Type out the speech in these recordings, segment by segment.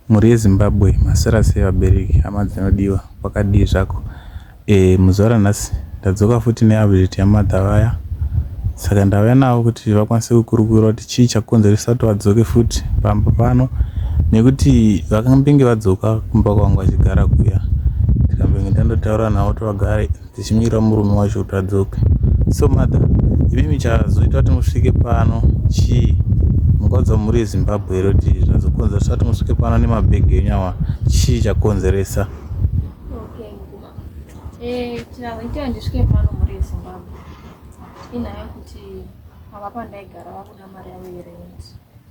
Mhuri yeZimbabwe maswera sei vabereki hama dzinodiwa kwakadii zvako eh muzuva ranhasi ndadzoka futi neupdate yamadha vaya saka ndauya navo kuti vakwanise kukurukura kuti chii chakonzeresa kuti vadzoke futi pamba pano nekuti vakambenge vadzoka kumba kwangu vachigara kuya ndikambenge ndandotaura navo kuti vagare tichimira murume wacho kuti adzoke so mother imimi chazoita kuti musvike pano chii mungaudza mhuri yezimbabwe here kuti zvazokonzera sati musvike pano nemabhegi enyu awa chii chakonzeresa eh, chazoita ndisvike pano mhuri yezimbabwe inhaya kuti ava pandaigara vakuda mari yavo yerenti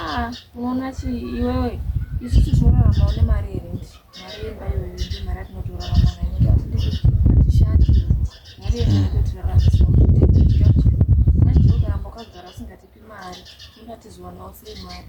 ah, unoona chi iwewe isu tinorarama une mari here ndi mari yemba iyoyo ndi mari atinotorarama nayo atishandi mari yeaotiraramaaaokaramba ukagara usingatipi mari ingatizowanao sei mari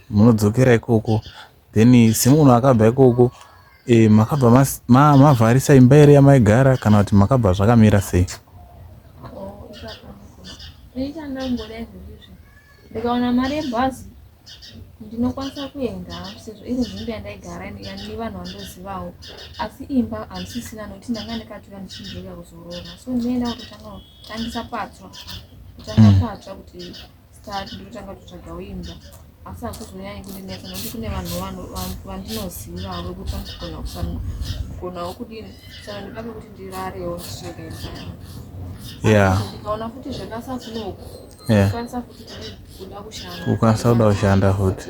munodzokera ikoko then semunhu akabva ikoko e, makabva mas- ma- mavharisa imba here yamaigara kana kuti makabva zvakamira sei ndichandamboda izvi ndizvi ndikaona mari yebhazi ndinokwanisa kuenda sezvo iri nzvimbo yandaigara ine- ya- nevanhu vandozivawo asi imba handisisina nokuti ndanga ndikatouya ndichinzvika kuzorora so ndinoenda kutotanga kutangisa patsva kutanga patsva kuti start ndotanga kutsvagawo imba asi hakuzonyanyi kundinetsa nokuti kune vanhu vandinoziva avo kuti vanogona kufanira kugonawo kudini saka ndoda pekuti ndirarewo ndichitsvaga imba ndikaona futi zvakasafunoku kukwanisa kuda kushanda futi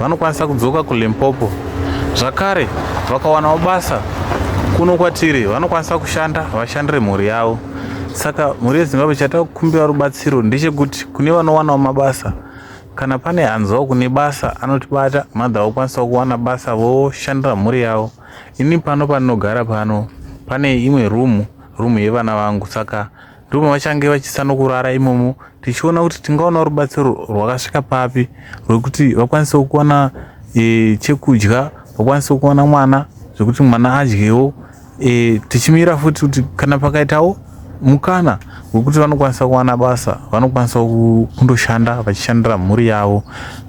vanokwanisa kudzoka kulimpopo zvakare vakawanawo basa kuno kwatiri vanokwanisa kushanda vashandire mhuri yavo saka mhuri yezimbabwe chatakukumbira rubatsiro ndechekuti kune vanowanawo mabasa kana pane hanzwa kune basa anotibata mother vokwanisawo kuwana basa voshandira mhuri yavo ini pano pandinogara pano pane imwe room room yevana vangu saka ndimo vachange vachisanokurara imomo tichiona kuti tingaona rubatsiro rwakasvika papi rwekuti vakwanise kuwana e, chekudya vakwanise kuwana mwana zvekuti mwana adyewo e, tichimira futi kuti kana pakaitawo mukana wekuti vanokwanisa kuwana basa vanokwanisa kundoshanda vachishandira mhuri yavo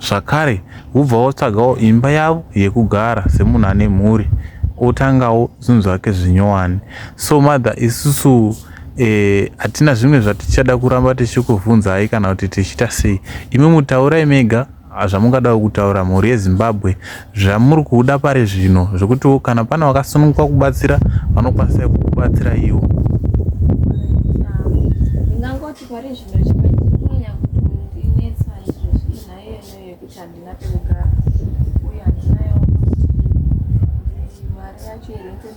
zvakare vobva votsvagawo imba yavo yekugara semunhu ane mhuri otangawo zvinhu zvake zvinyowani so mother isusu e, Eh, hatina zvimwe zvatichada kuramba tichikuvhunzai kana kuti tichiita sei imi mutaurai mega ah, zvamungadawo kutaura mhuri yezimbabwe zvamuri kuda pari zvino zvekutiwo kana pane wakasununguka kubatsira vanokwanisa kukubatsira iwo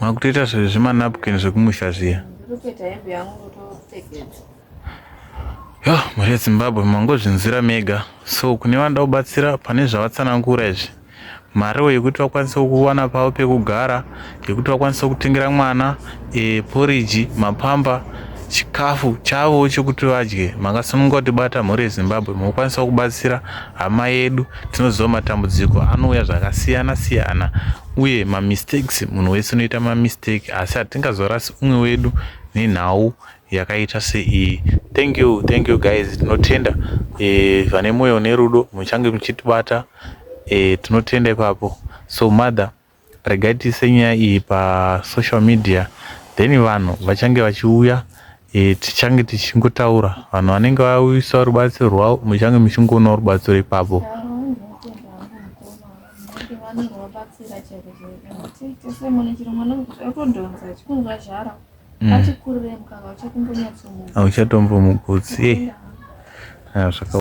makutoita zvemanapkin zvekumusha zviya yo mhuri yezimbabwe mangozvinzira mega so kune vanoda kubatsira pane zvavatsanangura izvi mariwo yekuti vakwanise kuwana pavo pekugara yekuti vakwanise kutengera mwana e, poriji mapamba chikafu chavo chekuti vadye makasununga kuti bata mhuri yezimbabwe mukukwanisa kubatsira hama yedu Tinoziva matambudziko anouya zvakasiyana siyana uye mamistakes munhu wese unoita mamistake asi hatingazorasi umwe wedu nenhau yakaita seiyi thank you thank you guys tinotenda e, vane mwoyo nerudo muchange muchitibata e, tinotenda ipapo so mother Regai tiise nyaya iyi pasocial media then vanhu vachange vachiuya e, tichange tichingotaura vanhu vanenge vauyisa rubatsiro rwavo muchange muchingoona rubatsiro ipapo mm. auchatombomugutsi eh.